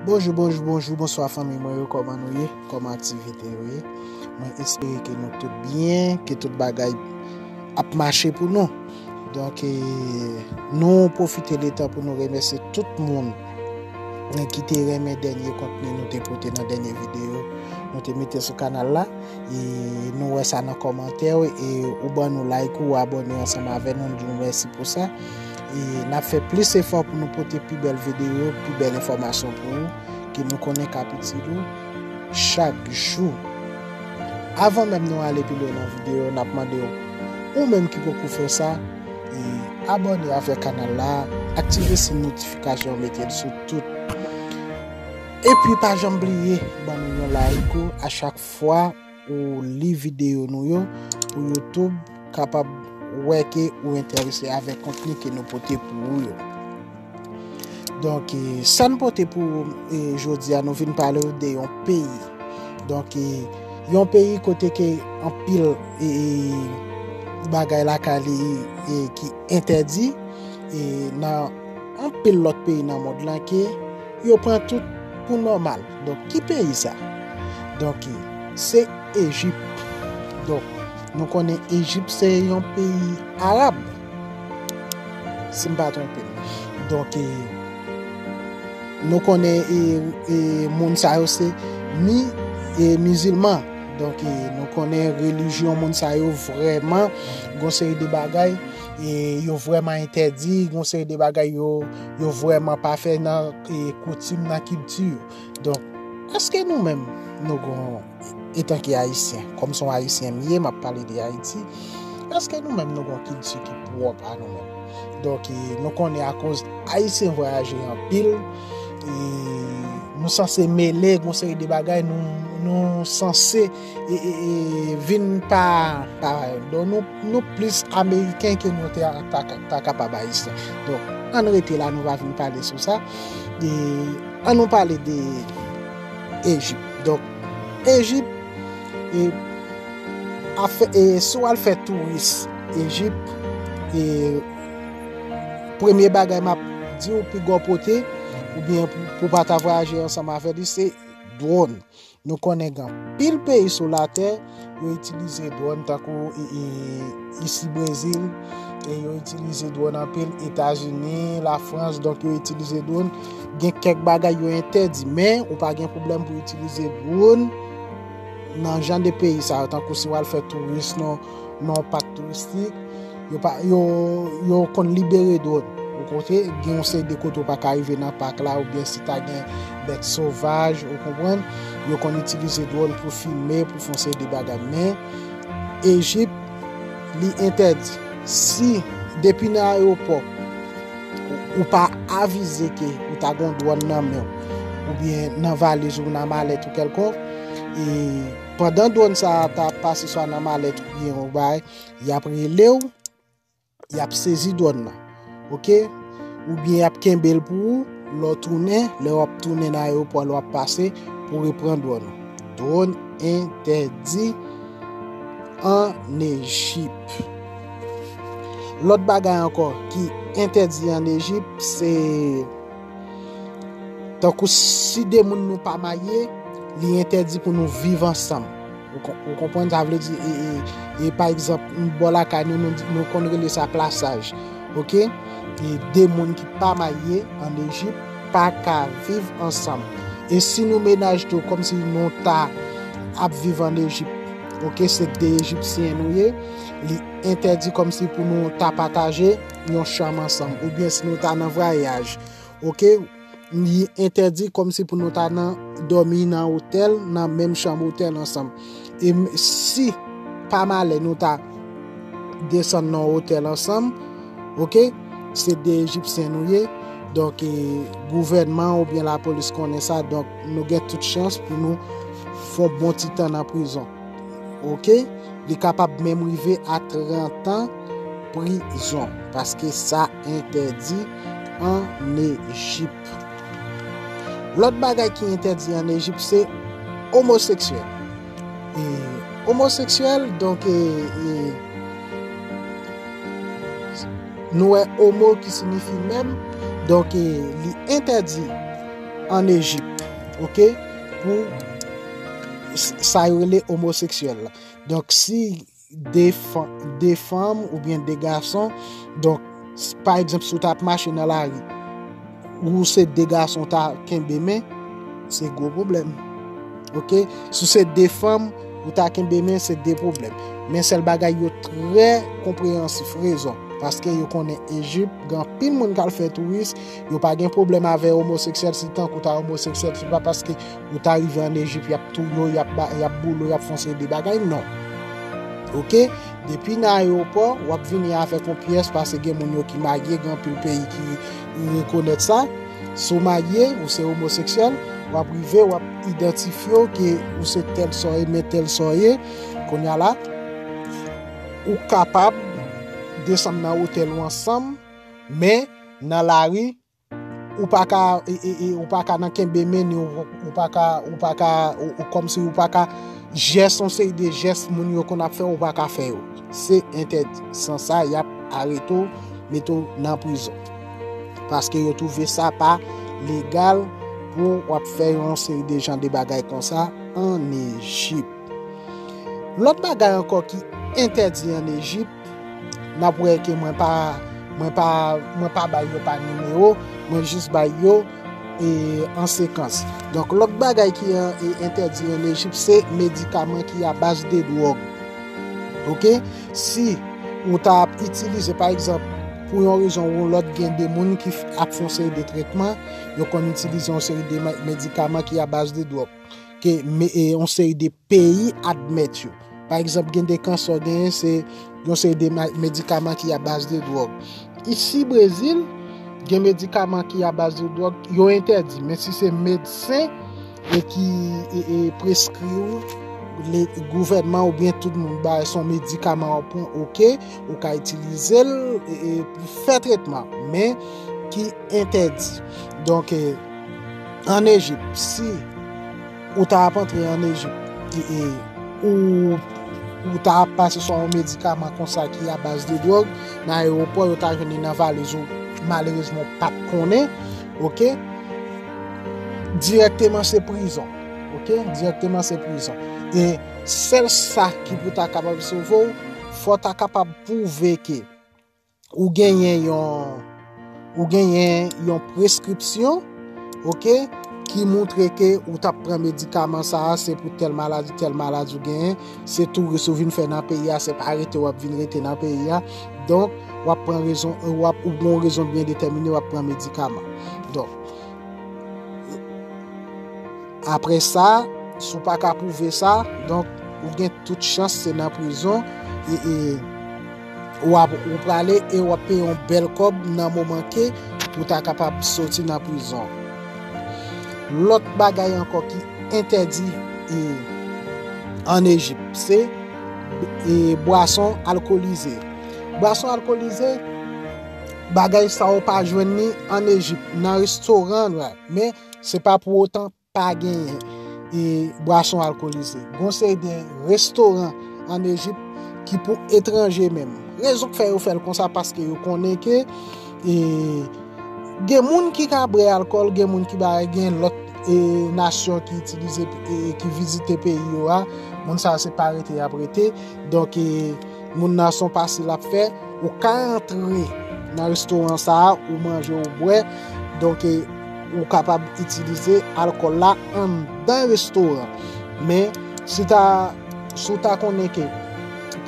Bonjou bonjou bonjou bonswa fanmi mwen yo kòman nou ye kòman aktivite yo ye mwen espere ke nou tout byen ke tout bagay ap mache pou nou donk e, nou pwofite de tan pou nou remèsye tout moun e ki te renmen dènye kontni nou te pote nan dènye videyo nou te mete sou kanal la e nou wè sa nan kòmantè yo e ou ban nou like ou abòne ansanm avè nou nou di nou mèsi pou sa E nap fè plis efò pou nou pote pi bèl videyo, pi bèl enfòmasyon pou ou ke nou konnen kap itil ou chak jou. Avan menm nou ale pi lwen nan videyo, nap mande ou, ou menm ki poko fè sa, abòne avèk kanal la, aktive si notifikasyon an mete l sou tout. Epi pa janm bliye ban nou yon like ou a chak fwa. Ou li videyo nou yo pou YouTube kapab wè ke ou enterese avèk kontni ke nou pote pou ou yo. Donk, sa nou pote pou ou e, jodi a, nou vin pale ou de yon peyi. Donk, yon peyi kote ke anpil e bagay la ka li e ki entèdi e nan anpil lòt peyi nan mond lan ke yo pran tout pou nòmal. Donk ki peyi sa? Donk se Ejip. Donk nou konnen Ejip se yon peyi Arab. Si m pa twonpe. Donk nou konnen moun sa yo se ni mizilman. Donk nou konnen relijyon moun sa yo vreman gonseri de bagay. Yo vreman entèdi gonseri de bagay yo. Yo vrèman pa fè nan koutim, nan kilti yo. Donk, èske nou menm nou gon etanke Ayisyen, kòm son Ayisyen m ye, m ap pale de Ayiti, èske nou menm nou gon kilti ki pwòp a nou menm? Donk, nou konnen akoz Ayisyen vwayaje anpil, nou sanse mele gon seri de bagay, nou sanse. vin pa don nou nou plis ameriken ke nou te ta kapab ayisyen don an rete la nou va vin pale sou sa an nou pale de ejip don ejip e sou al fè touris ejip e premye bagay map di ou pi gò pote ou byen pou pa ta vwa aje ansanm avè li se dron e Nou konnen gen anpil peyi sou latè yo itilize dwòn tankou isi Brezil, e yo itilize dwòn anpil Etazini, la Frans, donk yo itilize dwòn. Gen kèk bagay yo entèdi, men ou pa gen pwoblèm pou itilize dwòn nan jan de peyi sa yo tankou si w al fè touris nan nan yon pak touristik, yo konn libere dwòn. Ou konprann? Gen yon seri de kote ou pa ka rive nan pak la oubyen si ta gen bèt sovaj, ou konprann? Yo konn itilize dwòn pou filme, pou fè yon seri de bagay. Men, Ejip, li entèdi. Si, depi nan ayewopò, ou pa avize ke ou ta gen yon dwòn nan men w, oubyen nan valiz ou, nan malèt ou kèlkonk, e. Pandan dwòn sa a ta ap pase swa nan malèt ou byen yon bagay, y ap rele w, y ap sezi dwòn nan. Ok? Ou byen y ap kenbe l pou ou, lè w tounen, lè w ap tounen nan ayewopò a, lè w ap pase, pou w repran dwòn ou. Dwòn entèdi ann Ejip. Lòt bagay ankò ki entèdi ann Ejip, se... Tankou si de moun nou pa maye, li entèdi pou nou viv ansanm. Ou konpwen sa vle di? E, e, e, pa egzamp, m bò la ka nou, nou konn rele sa plasaj. Ok? E de moun ki pa maye an Ejip pa ka viv ansanm. E si nou menaj tou, kom si nou ta ap viv an Ejip, ok, se de Ejipsyen nou ye, li entèdi kom si pou nou ta pataje, yon chanm ansanm ou byen si nou ta nan vwayaj ok li entèdi kòm si pou nou ta nan dòmi nan otèl nan menm chanm otèl ansanm e si pa malè nou ta desann nan otèl ansanm ok se de egipsyen nou ye donk e gouvènman ou byen la polis konnen sa donk nou gen tout chans pou nou fon bon ti tan nan prizon. Ok li kapab menm rive a 30 ans prison paske sa entèdi an Ejip. Lòt bagay ki entèdi an Ejip se omoseksyèl. E omoseksyèl donk e nou wè omo ki signifi menm donk e li entèdi an Ejip. Ok. pou sa yo rele omoseksyèl la. Donk si 2 fanm ou byen 2 gason, donk pa egzanp si w ta ap mache nan lari, ou se 2 gason ta kenbe men, se gwo pwoblèm. Ok, si se 2 fanm ou ta kenbe men, se 2 pwoblèm. Men sèl bagay yo trè konpreyansif, rezon, paske yo konnen Ejip, gen anpil moun k al fè touris, Yo pa gen pwoblèm avè omoseksyèl si tank ou ta omoseksyèl se pa paske ou ta rive an Ejip yap touye w, yap boule w, yap fè yon seri de bagay non. Ok, depi nan ayewopò wap vini avèk yon pyès pase gen moun yo ki marye gen anpil peyi ki rekonèt sa, si w marye ou se omoseksyèl wap rive wap idantifye w ke ou se tèl sa w ye men tèl sa w ye, kounya la ou kapab desann nan otèl ou ansanm men Nan lari, ou pa ka, ou pa ka nan kenbe men ni ou pa ka, ou pa ka, kòmsi ou pa ka jès yon seri de jès moun yo konn ap fè ou pa ka fè yo. Se entèdi. San sa, y ap arete ou, mete ou nan prizon. Paske yo twouve sa pa legal pou w ap fè yon seri de jan de bagay konsa an Ejip. Lòt bagay ankò ki entèdi an Ejip, Nap wè ke mwen pa mwen pa mwen pa bay yo pa nimewo mwen jis bay yo e an sekans. Donk lòt bagay ki entèdi an Ejip se medikaman ki a baz de dwòg. Ok si ou ta ap itilize pa egzanp pou yon rezon ou lòt gen de moun ki ap fon seri de tretman yo konn itilize yon seri de medikaman ki a baz de dwòg. ke yon seri de peyi admèt yo. Pa egzanp, gen de kansè w genyen se yon seri de medikaman ki a baz de dwòg. Isi Brezil, gen medikaman ki a baz de dwòg, yo entèdi. Men si se medsen e ki preskri ou, gouvènman ou byen tout moun ba son medikaman ou pran ok, ou ka itilize l pou fè tretman. Men ki entèdi. Donk e... An Ejip, si ou ta ap antre an Ejip, ou ta ap pase sou yon medikaman konsa ki a baz de dwòg, nan ayewopò yo ta jwenn li nan valiz ou, malerezman ou pa t konnen, ok, dirèkteman se prizon, ok, dirèkteman se prizon. E sèl sa ki pou ta kapab sove ou, fò w ta kapab pwouve ke. ou genyen yon ou genyen yon preskripsyon ok ki moutre ke ou tap pran medikaman sa a se pou tel maladi tel maladi ou genyen se tou resou vin fè nan peyi a se pa rete wap vin rete nan peyi a donk wap pran rezon ou wap ou bon rezon byen detèmine wap pran medikaman donk apre sa sou pa ka pouve sa donk ou gen tout chans se nan prizon e e Wap ou prale e wap peye yon bel kob nan moman ke ou ta kapab soti nan prizon. Lot bagay anko ki entèdi an Ejip se bwason alkolize. Bwason alkolize bagay sa ou pa jwenn ni an Ejip nan restoran men se pa pou otan Pa genyen e bwason alkolize. Gon yon seri de restoran an Ejip ki pou etranje menm. Rezon k fè yo fè l konsa paske yo konnen ke e gen moun ki ka bwè alkòl, gen moun ki ba gen lòt e nasyon ki itilize e ki vizite peyi yo a, moun sa se pa rete y ap rete. Donk e moun nan son pase l ap fè, ou ka antre nan restoran sa a, ou manje, ou bwè. Donk e. Ou kapab itilize alkòl la anndan restoran. Men, si ta, si w ta konnen ke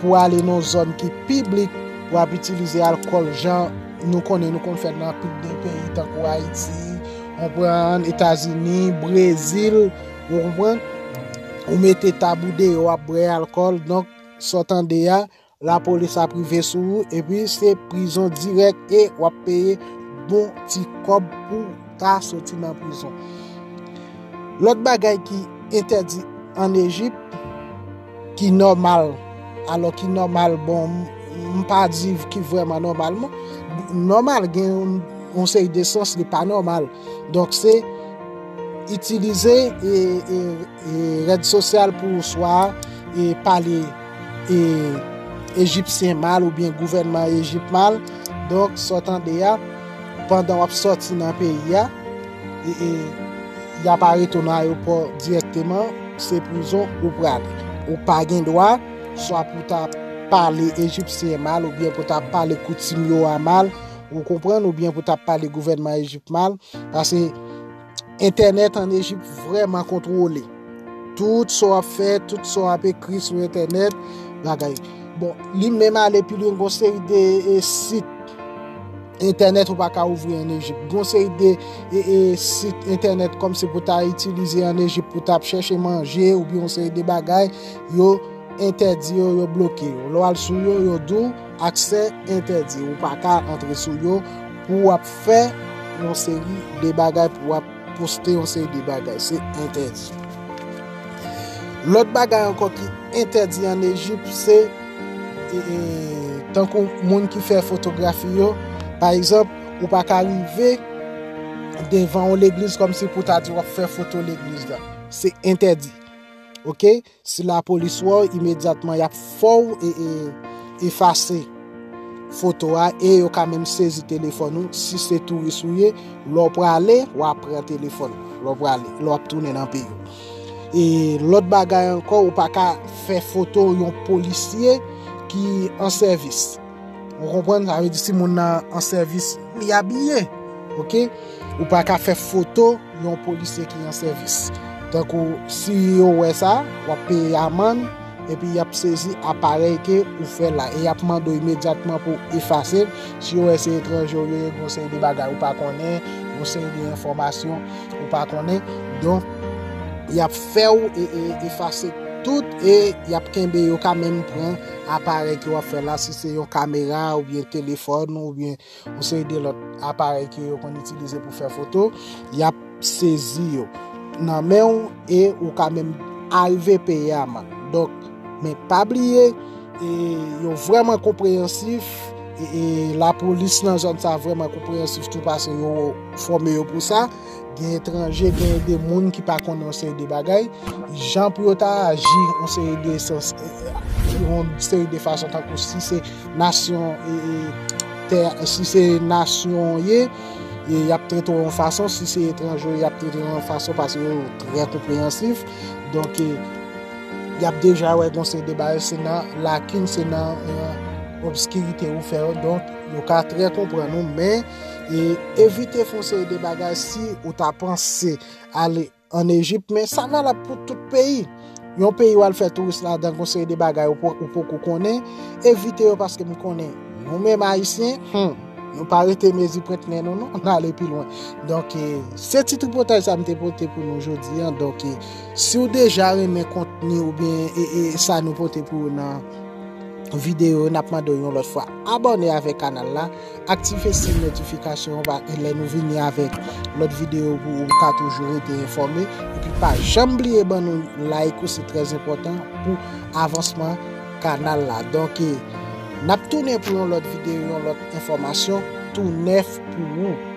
pou w ale nan yon zòn ki piblik, w ap itilize alkòl jan nou konnen, nou konn fè l nan anpil de peyi tankou Ayiti, konprann, Etazini, Brezil, ou konprann, ou mete tab ou deyò w ap bwè alkòl, donk sa w tande a. La polis ap rive sou ou epi se prizon dirèk e wap peye bon ti kòb pou ta soti nan prizon. Lòt bagay ki entèdi an Ejip ki nòmal, alò ki nòmal bon m pa di ki vrèman nòmal non, nòmal gen yon seri de sans li pa nòmal. Donk se itilize e. Rèd sosyal pou ou swa e pale e ejipsyen mal oubyen gouvènman ejip mal donk sa w tande a pandan w ap sòti nan peyi a e y ap arete w nan ayewopò dirèkteman se prizon ou pral ou pa gen dwa swa pou w ta pale ejipsyen mal oubyen pou w ta pale koutim yo a mal ou konprann oubyen pou w ta pale gouvènman ejip mal pase Entènèt an Ejip vrèman kontwole. Tout sa w ap fè, tout sa w ap ekri sou entènèt, bagay. Bon, li menm ale pi lwen gon seri de e, sit entènèt ou pa ka ouvri an Ejip. Gon seri de e, e, sit entènèt kòm se pou ta itilize an Ejip pou ta ap chèche manje oubyen yon seri de bagay, yo entèdi yo, yo bloke yo. Lè w al sou yo, yo di w. Aksè entèdi, ou pa ka antre sou yo pou w ap fè yon seri de bagay, pou w ap poste yon seri de bagay. Se entèdi. Lòt bagay ankò ki entèdi an Ejip, se e, e, tankou moun ki fè fotografi yo, pa egzanp, ou pa ka rive devan yon legliz kòm si pou ta di w ap fè foto legliz la. Se entèdi. Ok? Si lapolis wè w, imedyatman y ap fè w efase foto a e yo ka menm sezi telefòn ou. Si se touris ou ye, lè w prale, w a pran telefòn ou lè w prale, lè w ap tounen nan peyi w. E lòt bagay ankò, ou pa ka fè foto yon polisye ki an sèvis. Ou konprann sa vle di si moun nan an sèvis li abiye ok ou pa ka fè foto yon polisye ki an sèvis tankou si yo wè sa wap peye amann epi yap sezi aparèy ke ou fè la e yap mande w imedyatman pou efase si yo wè se etranje ou ye gon seri de bagay ou pa konnen gon seri de enfòmasyon ou pa konnen donk yap fè w efase tout e yap kenbe yo ka menm pran Aparèy ke wap fè la, si se yon kamera ou byen telefòn ou byen yon seri de lòt aparèy ke yo konn itilize pou fè foto, yap sezi yo nan men ou e ou ka menm arive peye amann. Donk, men pa bliye, yo vreman konpreyansif e lapolis nan zòn sa vreman konpreyansif tou pase yo fòme yo pou sa. gen etranje, gen de moun ki pa konnen yon seri de bagay, jan pou yo ta aji yon seri de sens, yon seri de fason tankou si se nasyon, si se nasyon ye, y ap trete yon fason, si se etranje y ap trete yon fason, pase yo trè konpreyansif, donk e, y ap deja wè yon seri de bagay, se nan lakin, se nan obskirite ou fè yo, donk yo ka trè konprann ou, men. e evite fon seri de bagay si ou ta panse ale an Ejip men sa valab pou tout peyi yon peyi wal fè touris la dan fon seri de bagay ou poko konnen evite yo paske m konnen nou men m ayisyen nou pa rete mezi pwent nen nou nou nan ale pi lwen donk se ti tripotay sa m te pote pou nou jodi an donk si ou deja renmen kontni ou byen e sa nou pote pou ou nan videyo nap mande yon lòt fwa abone avèk kanal la Aktive siy notifikasyon an pa lè nou vini avèk lòt videyo pou ou ka toujou rete enfòme epi pa janm bliye ban nou like ou se trè enpòtan pou avansman kanal la donk nap tounen pou yon lòt videyo yon lòt enfòmasyon tou nèf pou ou.